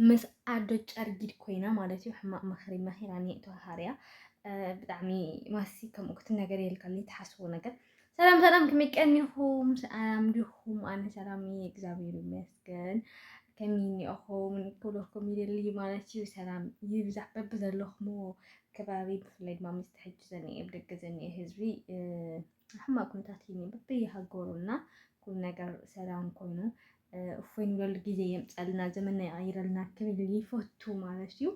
ምስ ኣዶ ጨርጊድ ኮይና ማለት እዩ ሕማቅ ምክሪ መኪራ ኒእቶ ሃርያ ብጣዕሚ ማሲ ከምኡ ክትነገር የልካኒ ትሓስቡ ነገር ሰላም ሰላም ከመይ ቀኒኹም ሰላም ዲኹም ኣነ ሰላም እየ እግዚኣብሔር ይመስገን ከመይ እኒኦኹም ክብለኩም ይደሊ ማለት እዩ ሰላም ይብዛሕ በቢ ዘለኹምዎ ከባቢ ብፍላይ ድማ ምስ ትሕጂ ዘኒኤ ብደገ ዘኒኤ ህዝቢ ሕማቅ ኩነታት እዩ በቢ ሃገሩና ኩሉ ነገር ሰላም ኮይኑ እፎይ ንብለሉ ግዜ የምፀልና ዘመንና ይቐይረልና ክብል ይፈቱ ማለት እዩ።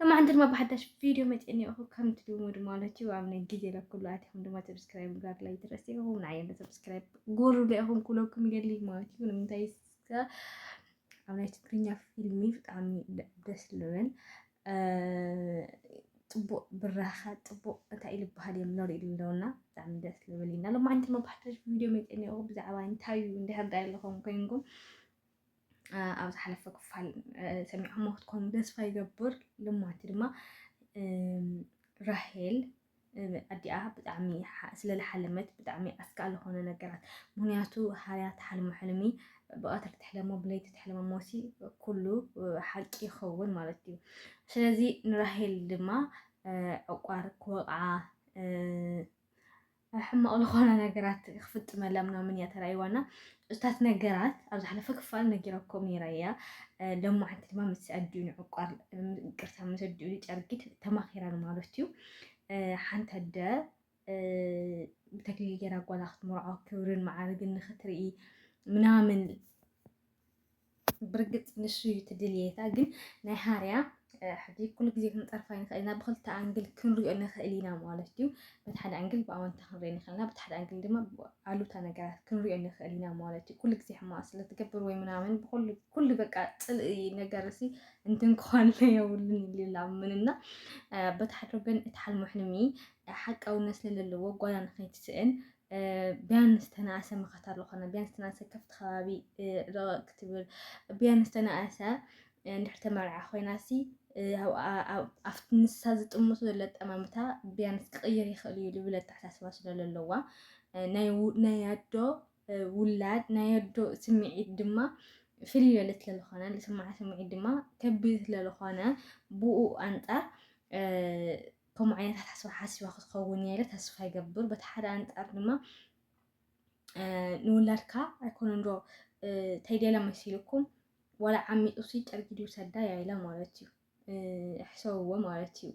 ለማዕንቲ ድማ ብሓዳሽ ቪድዮ መፅእኒ እኹ ከምቲ ልሙድ ማለት እዩ ኣብ ናይ ግዜ ለኩሉ ኣትኹም ድማ ሰብስክራይብ ጋር ላይ ድረስ ኢኹም ንዓይ እንደ ሰብስክራይብ ጎሩ ኢኹም ኩለኩም ይደሊ ማለት እዩ ንምንታይ ኣብ ናይ ትግርኛ ፊልሚ ብጣዕሚ ደስ ልብል ፅቡቅ ብራኸ ፅቡቅ እንታይ እዩ ዝበሃል እዮም ንሪኢ ኣለውና ብጣዕሚ ደስ ዝብል ኢና ሎማዓንቲ መባሕተሽ ቪድዮ መፅኒኦ ብዛዕባ እንታይ እዩ እንድሕር ዳይ ኣለኹም ኮይንኩም ኣብ ዝሓለፈ ክፋል ሰሚዕኹም ክትኮኑ ተስፋ ይገብር ሎማዓንቲ ድማ ራሄል ኣዲኣ ብጣዕሚ ስለ ልሓለመት ብጣዕሚ ኣስጋእ ልኾነ ነገራት ምክንያቱ ሃርያ ትሓልሞ ሕልሚ ብቀትሪ ትሕለሞ ብለይቲ ትሕለሞ ሞሲ ኩሉ ሓቂ ይኸውን ማለት እዩ ስለዚ ንራሄል ድማ ዕቋር ክወቕዓ ሕማቕ ልኾነ ነገራት ክፍጥመላ ምናምን እያ ተራእይዋና እታት ነገራት ኣብ ዝሓለፈ ክፋል ነጊረኩም ነይረ እያ ሎም መዓንቲ ድማ ምስ ኣዲኡ ንዕቋር ቅርታ ምስ ኣዲኡ ንጨርጊት ተማኺረን ማለት እዩ ሓንቲ ኣደ ብተክሊል ገይራ ጓላ ክትምርዖ ክብርን መዓርግን ንክትርኢ ምናምን ብርግጽ ንሱ እዩ እቲ ድልየታ ግን ናይ ሃርያ ሕጂ ኩሉ ግዜ ክንጠርፋ ንኽእል ኢና ብክልተ ኣንግል ክንሪኦ ንኽእል ኢና ማለት እዩ በቲ ሓደ ኣንግል ብኣወንታ ክንሪኦ ንኽእል ኢና በቲ ሓደ ኣንግል ድማ ኣሉታ ነገራት ክንሪኦ ንኽእል ኢና ማለት እዩ ኩሉ ግዜ ሕማቅ ስለትገብር ወይ ምናምን ኩሉ በቃ ፅልኢ ነገር ሲ እንትን ከኋለ የብሉን ይላምን እና በቲ ሓደ ወገን እቲ ሓልሙ ሕልሚ ሓቃውነት ስለለለዎ ጓና ንኸይትስእን ቢያንስ ተናእሰ መኸታ ዝኾነ ቢያንስ ተናእሰ ከፍቲ ከባቢ ረቐቕ ክትብል ቢያንስ ተናእሰ እንድሕር ተመርዓ ኮይናሲ ኣብቲ ንሳ ዝጥምቶ ዘሎ ኣጠማምታ ቢያንስ ክቕይር ይኽእል እዩ ዝብል ኣተሓሳስባ ስለ ዘለዋ ናይ ኣዶ ውላድ ናይ ኣዶ ስምዒት ድማ ፍልይ ዝበለ ስለ ዝኾነ ዝስምዓ ስምዒት ድማ ከቢድ ስለ ዝኾነ ብኡ ኣንፃር ከምኡ ዓይነት ኣተሓሳስባ ሓሲባ ክትኸውን እያ ኢለ ተስፋ ይገብር። በቲ ሓደ ኣንጻር ድማ ንውላድካ ኣይኮነን ዶ ተይደለ መሲልኩም ዋላ ዓሚጡሲ ጨርጊድ ይውሰዳ እያ ኢለ ማለት እዩ ሕሰብዎ ማለት እዩ።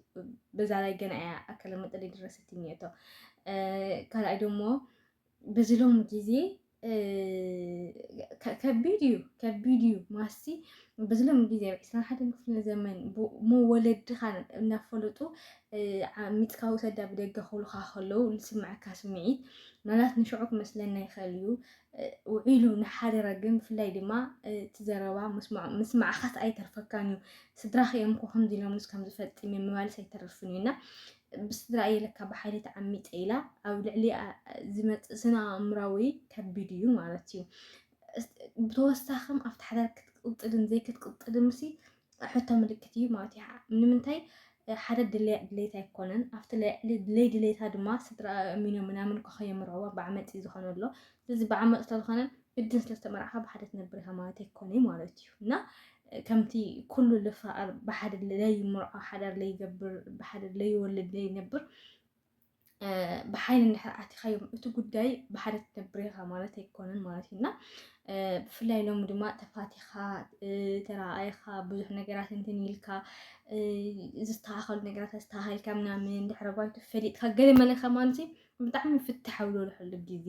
በዛ ላይ ገና እያ ኣከለ መጠን የደረሰትኝ እቶ ካልኣይ ደሞ በዚ ሎሚ ግዜ ከቢድ እዩ ከቢድ እዩ ማስቲ በዚ ሎሚ ግዜ ኣብ ዕስራን ሓደን ክፍለ ዘመን መወለድኻ እናፈለጡ ሚትካ ውሰዳ ብደገ ክብሉካ ከለዉ ዝስምዐካ ስምዒት ምናልባት ንሽዑ ክመስለና ይኽእል እዩ ውዒሉ ንሓደረ ግን ብፍላይ ድማ እቲ ዘረባ ምስማዕኻስ ኣይተርፈካን እዩ ስድራኽ እዮም እኮ ከምዚ ኢሎምስ ከም ዝፈፅም እዮም ምባልስ ኣይተርፍን እዩ እና ብስድራ እየ ለካ ብሓይሊ ተዓሚፀ ኢላ ኣብ ልዕሊኣ ዝመፅእ ስነ ኣእምራዊ ከቢድ እዩ ማለት እዩ ብተወሳኺም ኣብቲ ሓዳር ክትቅፅልን ዘይክትቅፅልን ምሲ ሕቶ ምልክት እዩ ማለት እዩ ንምንታይ ሓደ ድለያ ድሌት ኣይኮነን ኣብቲ ልዕሊ ድለይ ድሌታ ድማ ስድራ እሚኖ ምናምን ኮኸ የምርዕዋ ብዓመፅ እዩ ዝኾነ ኣሎ ስለዚ ብዓመፅ ስለዝኾነ እድን ስለ ዝተመርዓኻ ብሓደ ትነብር ኢኻ ማለት ኣይኮነይ ማለት እዩ እና ከምቲ ኩሉ ልፋኣር ብሓደ ለይምርዖ ሓዳር ለይገብር ብሓደ ለይወልድ ለይነብር ብሓይሊ እንድሕር ኣቲኻዮም እቲ ጉዳይ ብሓደ ትነብር ኢኻ ማለት ኣይኮነን ማለት እዩ እና ብፍላይ ሎሚ ድማ ተፋቲኻ ተረኣይኻ ብዙሕ ነገራት እንትን ኢልካ ዝተኻኸሉ ነገራት ዝተሃልካ ምናምን ድሕረ ባይቱ ፈሊጥካ ገለ መለኻ ማለት እዩ ብጣዕሚ ፍትሓዊ ዘለሕሉ ግዜ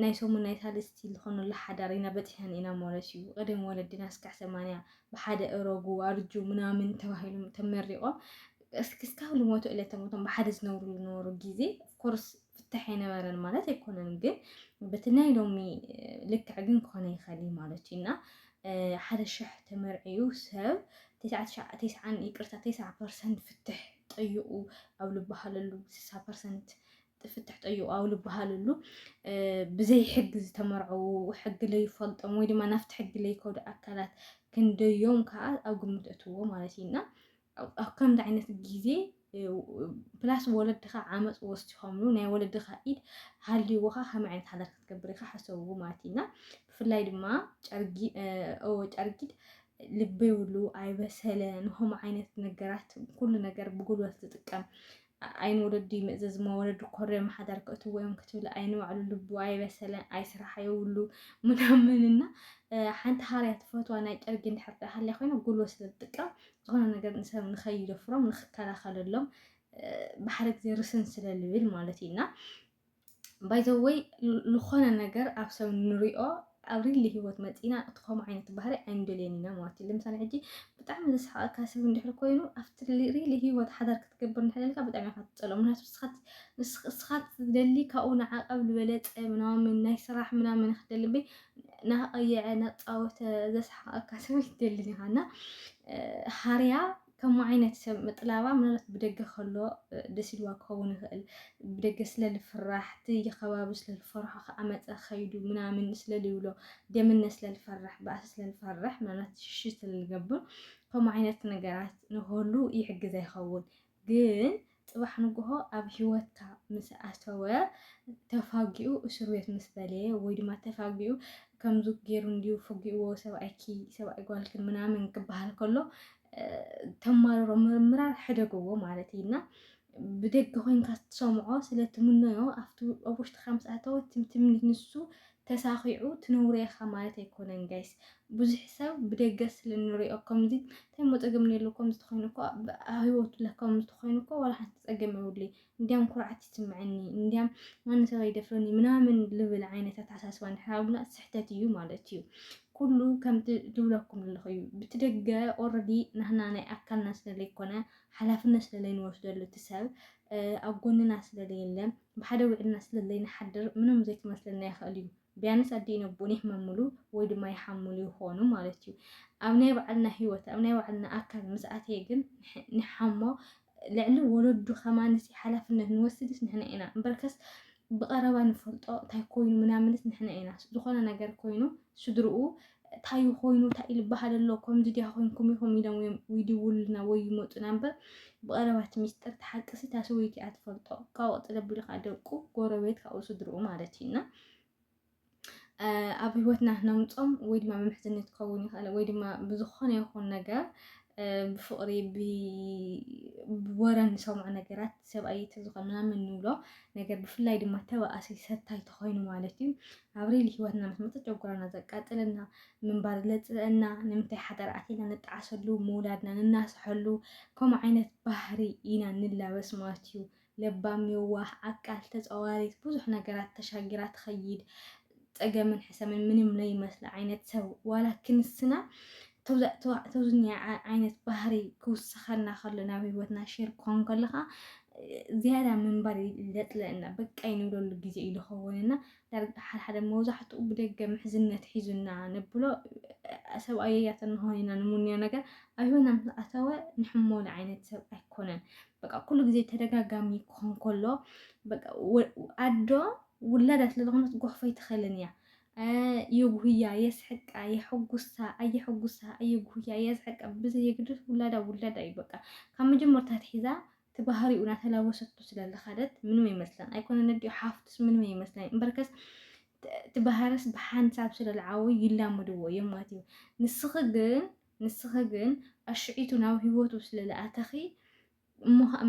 ናይ ሰሙን ናይ ሳልስቲ ዝኾነሉ ሓዳር ኢና በፂሐን ኢና ማለት እዩ። ቀደም ወለድና እስካዕ ሰማንያ ብሓደ እረጉ ኣርጁ ምናምን ተባሂሎም ተመሪቖም እስካብ ልሞቱ ዕለተ ሞቶም ብሓደ ዝነብሩ ዝነበሩ ግዜ ኮርስ ፍታሕ የነበረን ማለት ኣይኮነን፣ ግን በቲ ናይ ሎሚ ልክዕ ግን ክኾነ ይኸሊ ማለት እዩ እና ሓደ ሽሕ ተመርዕዩ ሰብ ተስዓን ይቅርታ ተስዓ ፐርሰንት ፍትሕ ጠይቑ ኣብ ልበሃለሉ ስሳ ፐርሰንት ፍትሕ ጠይቑ ኣብ ልበሃለሉ ብዘይ ሕጊ ዝተመርዐዉ ሕጊ ለይፈልጦም ወይ ድማ ናፍቲ ሕጊ ለይከዱ ኣካላት ክንደዮም ከዓ ኣብ ግምት እትዎ ማለት እዩ እና ኣብ ከምዚ ዓይነት ግዜ ፕላስ ወለድኻ ዓመፅ ወሲኾምሉ ናይ ወለድኻ ኢድ ሃልይዎኻ ከመይ ዓይነት ሓዳር ክትገብር ኢኻ ሓሰብዎ ማለት እዩ እና ብፍላይ ድማ ጨርጊድ ልቢ የብሉ ኣይበሰለ ንከምኡ ዓይነት ነገራት ኩሉ ነገር ብጉልበት ዝጥቀም ዓይን ወለዱ ይምእዘዝ እሞ ወለዱ ኮርዮም ሓዳር ክእትዎ እዮም ክትብል ዓይኒ ባዕሉ ልቡ ኣይበሰለ ኣይስራሕ የብሉ ምናምን እና ሓንቲ ሃርያ ትፈትዋ ናይ ጨርጊ እንድሕር ዳ ሃልያ ኮይና ጉልበት ስለ ዝጥቀም ዝኾነ ነገር ንሰብ ንኸይደፍሮም ንኽከላኸለሎም ብሓደ ግዜ ርስን ስለ ልብል ማለት እዩ እና ባይ ዘ ወይ ዝኾነ ነገር ኣብ ሰብ ንሪኦ ኣብ ሪሊ ሂወት መጺና እቲ ከምኡ ዓይነት ባህሪ ኣይንደልዮን ኢና ማለት እዩ። ለምሳሌ ሕጂ ብጣዕሚ ዘስሓቐካ ሰብ እንድሕር ኮይኑ ኣብቲ ሪሊ ሂወት ሓዳር ክትገብር እንድሕር ኢልካ ብጣዕሚ ኢኻ ትጸልኦ። ምክንያቱ ንስኻ ትደሊ ካብኡ ንዓቐብ ዝበለጸ ምናምን ናይ ስራሕ ምናምን ክትደሊ እምበይ ናቐየዐ ናጻወተ ዘስሓቐካ ሰብ ኣይትደልን ኢኻ እና ሃርያ ከምኡ ዓይነት ሰብ ምጥላባ ምናልባት ብደገ ከሎ ደስ ኢልዋ ክኸውን ይኽእል። ብደገ ስለ ልፍራሕ እቲ ከባቢ ስለ ልፈርሖ ከኣ መጸ ከይዱ ምናምን ስለ ልብሎ ደምነ ስለ ልፈርሕ ባእሲ ስለ ልፈርሕ ምናልባት ሽሽ ስለ ልገብር ከምኡ ዓይነት ነገራት ንክህሉ ይሕግዛ ይኸውን ግን ጽባሕ ንግሆ ኣብ ሂወትካ ምስ ኣተወ ተፋጊኡ እሱር ቤት ምስ በለየ ወይ ድማ ተፋጊኡ ከምዚ ጌሩ እንድዩ ፈጊእዎ ሰብኣይኪ ሰብኣይ ጓልክን ምናምን ክበሃል ከሎ ተማርሮ ምርምራር ሕደግዎ ማለት እዩ እና ብደገ ኮይንካ ትሰምዖ ስለ ትምነዮ ኣብቲ ኣብ ውሽጥካ ምስ ኣተወ ትምትም ንሱ ተሳኺዑ ትንውር ኢኻ ማለት ኣይኮነን ጋይስ ብዙሕ ሰብ ብደገ ስለ ንሪኦ ከምዚ እንታይ እሞ ፀገም እኒኤሉ ከምዚ ተኾይኑ እኮ ኣብ ህይወቱ ለ ከምዚ ተኾይኑ እኮ ዋላ ሓንቲ ፀገም የብሉይ እንዲያም ኩርዓት ይስምዐኒ እንዲያም ማንም ሰብ ኣይደፍረኒ ምናምን ልብል ዓይነት ኣተሓሳስባ እንድሕር ሃሉና ስሕተት እዩ ማለት እዩ ኩሉ ከምቲ ዝብለኩም ዘለኹ እዩ ብቲ ደገ ኦልሬዲ ናህና ናይ ኣካልና ስለለይኮነ ሓላፍነት ስለለይንወስደሉ እቲ ሰብ ኣብ ጎንና ስለ ለየለ ብሓደ ዊዕልና ስለ ለይንሓድር ምንም ዘይክመስለና ይኸእል እዩ። ቢያንስ ኣዲኢን ኣቡኡን ይሕመምሉ ወይ ድማ ይሓምሉ ይኾኑ ማለት እዩ። ኣብ ናይ ባዕልና ህይወት ኣብ ናይ ባዕልና ኣካል ምስ ኣተየ ግን ንሓሞ ልዕሊ ወለዱ ከማንሲ ሓላፍነት ንወስድስ ንሕና ኢና እምበርከስ ብቐረባ ንፈልጦ እንታይ ኮይኑ ምናምንስ ንሕና ኢና ዝኾነ ነገር ኮይኑ ስድርኡ እንታይ እዩ ኮይኑ እንታይ እዩ ዝበሃል ኣሎ ከምዚ ድያ ኮንኩም ኢኹም ኢሎም እዮም ይድውሉልና ወይ ይመፁና እምበር ብቐረባት ሚስጥር ተሓቅሲ እታ ሰበይቲ እያ ትፈልጦ ካብኡ ቀፅለ ኣቢሉ ከዓ ደቁ ጎረቤት ካብኡ ስድርኡ ማለት እዩ እና ኣብ ህይወትና ነምፆም ወይ ድማ መምሕዝነት ክኸውን ይኽእል ወይ ድማ ብዝኾነ ይኹን ነገር ብፍቕሪ ብወረ ንሰምዖ ነገራት ሰብኣይ ተዝኾን ምናምን ንብሎ ነገር ብፍላይ ድማ ተባእሲ ሰታይ ተኾይኑ ማለት እዩ ኣብሪል ህይወትና ምስ መፀት ጨጎራና ዘቃጥለና ምንባር ዘፅልእና ንምንታይ ሓዳር ኣቲና ንጣዓሰሉ ምውላድና ንናሰሐሉ ከምኡ ዓይነት ባህሪ ኢና ንላበስ ማለት እዩ ለባም የዋህ ዓቃል ተፃዋሪት ብዙሕ ነገራት ተሻጊራ ትኸይድ ፀገምን ሕሰምን ምንም ለይመስለ ዓይነት ሰብ ዋላ ክንስና ተውዝኛ ዓይነት ባህሪ ክውስኸና ከሎ ናብ ህይወትና ሼር ክኾን ከለኻ ዝያዳ ምንባር ለጥለና በቃ ይንብለሉ ግዜ እዩ ዝኸውንና ዳርጋ ሓደ ሓደ መብዛሕትኡ ብደገ ምሕዝነት ሒዙና ነብሎ ሰብኣየያት እንኾን ኢና ንምንዮ ነገር ኣብ ሂወትና ምስ ኣተወ ንሕመሉ ዓይነት ሰብ ኣይኮነን። በቃ ኩሉ ግዜ ተደጋጋሚ ክኾን ከሎ በቃ ኣዶ ውላዳ ስለ ዝኾነት ጎሕፎ ኣይትኸልን እያ። የጉህያ፣ የስሕቃ፣ የሕጉሳ፣ ኣየሕጉሳ፣ ኣየጉህያ፣ የስሕቃ ብዘየግድስ ውላዳ ውላዳ እዩ በቃ ካብ መጀመርታ ትሒዛ እቲ ባህሪኡ ናተላበሰቶ ስለ ዝኸደት ምንም ኣይመስላን ኣይኮነን ኣዲኡ ሓፍቱስ ምንም ኣይመስላን እምበርከስ እቲ ባህርስ ብሓንሳብ ስለ ዝዓበዩ ይላመድዎ እዮም ማለት እዩ ንስኺ ግን ንስኺ ግን ኣሽዒቱ ናብ ህይወቱ ስለ ዝኣተኺ እሞ ከዓ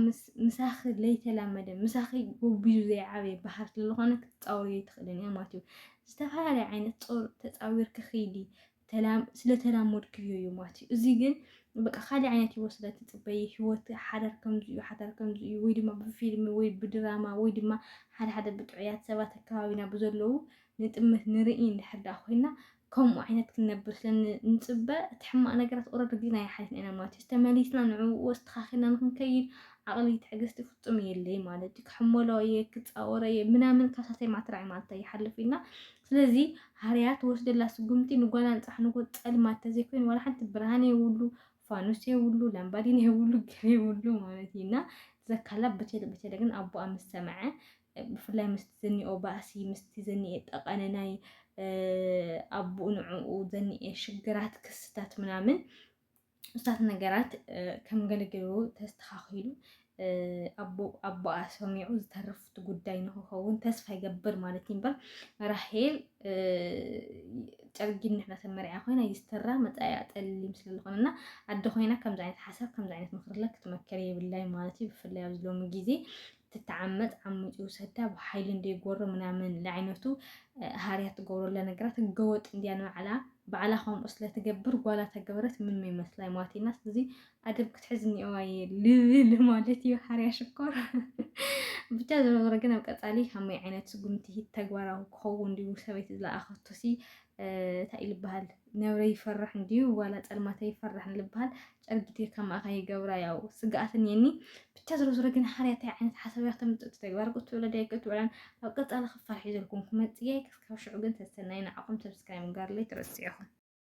ምሳኺ ለይተላመደ ምሳኺ ጎቢዙ ዘይዓበየ ባህር ስለ ዝኾነ ክትፃወርዮ ኣይትኽእልን እያ ማለት እዩ ዝተፈላለየ ዓይነት ፆር ተፃዊርኪ ክይዲ ስለተላመድክዮ እዩ ማለት እዩ። እዚ ግን በቃ ካልእ ዓይነት ህይወት ስለ ትጽበይ ህይወት ሓዳር ከምዚ እዩ ሓዳር ከምዚ እዩ ወይ ድማ ብፊልሚ ወይ ብድራማ ወይ ድማ ሓደ ሓደ ብጥዑያት ሰባት ኣከባቢና ብዘለዉ ንጥምት ንርኢ እንድሕር ደኣ ኮይና ከምኡ ዓይነት ክንነብር ስለ ንጽበ እቲ ሕማቕ ነገራት ኦረዲ ርዲእናዮ ሓሊፍና ኢና ማለት እዩ። ተመሊስና ንዕኡ ኣስተኻኺልና ንክንከይድ ዓቕሊ ትዕግስቲ ፍጹም የለይ ማለት እዩ። ክሕመሎ እየ ክጻወሮ እየ ምናምን ካብ ሳልሳይ መዓልቲ ራዕይ መዓልቲ ኣይሓልፍ ኢልና ስለዚ ሃርያ ትወስደላ ስጉምቲ ንጓላ ንጻሕንጎ ጸልማት ተዘይኮይኑ ዋላ ሓንቲ ብርሃን የብሉ ፋኑስ የብሉ ላምባዲን የብሉ ገለ የብሉ ማለት እዩ እና ዘካላ በቸለ በቸለ ግን ኣቦኣ ምስ ሰምዐ ብፍላይ ምስቲ ዘኒኦ ባእሲ ምስቲ ዘኒኤ ጠቐነ ናይ ኣቦኡ ንዕኡ ዘኒኤ ሽግራት ክስታት ምናምን ብዙታት ነገራት ከም ገልግሉ ተስተኻኺሉ ኣቦኣ ሰሚዑ ዝተረፍቲ ጉዳይ ንክኸውን ተስፋ ይገብር ማለት እዩ እምበር ራሄል ጨርጊን ንሕና ተመሪዓ ኮይና ይስተራ መፃኢያ ጠሊም ስለዝኾነ እና ኣደ ኮይና ከምዚ ዓይነት ሓሳብ ከምዚ ዓይነት ምክርለ ክትመከር የብላይ ማለት እዩ ብፍላይ ኣብዚ ሎሚ ግዜ ትተዓመጽ ዓሚጹ ይውሰዳ ብሓይሊ እንደ ጎሮ ምናምን ለዓይነቱ ሃርያ ትገብረለ ነገራት ህገወጥ እንዲያ ንባዕላ ባዕላ ከምኡ ስለትገብር ጓላ ተገበረት ምን ይመስላይ ማቲና ስለዚ ኣደብ ክትሕዝ እኒኦዋ እየ ልብል ማለት እዩ ሓርያ ሽኮር ብቻ ዞሮ ዞሮ ግን ኣብ ቀፃሊ ከመይ ዓይነት ስጉምቲ ተግባራዊ ክኸውን ድዩ ሰበይቲ ዝለኣኸቶ ሲ እንታይ እዩ ዝበሃል ነብረ ይፈራሕ እንድዩ ዋላ ፀልማተ ይፈራሕ ንልበሃል ጨርጊቴ ከምኣ ከይገብራ ያው ስግኣት እኒኤኒ ብቻ ዝሮ ዝሮ ግን ሓርያ እንታይ ዓይነት ሓሳብ እያ ክተምፅእ ተግባር ክትውዕሎ ዳይ ክትውዕላን ኣብ ቀፃሊ ክፋል ሒዘልኩም ክመፅእ እየ ክስካብ ሽዑ ግን ሰሰናይ ንዓኹም ሰብስክራይብ ምግባር ለይትረስዑ ኢኹም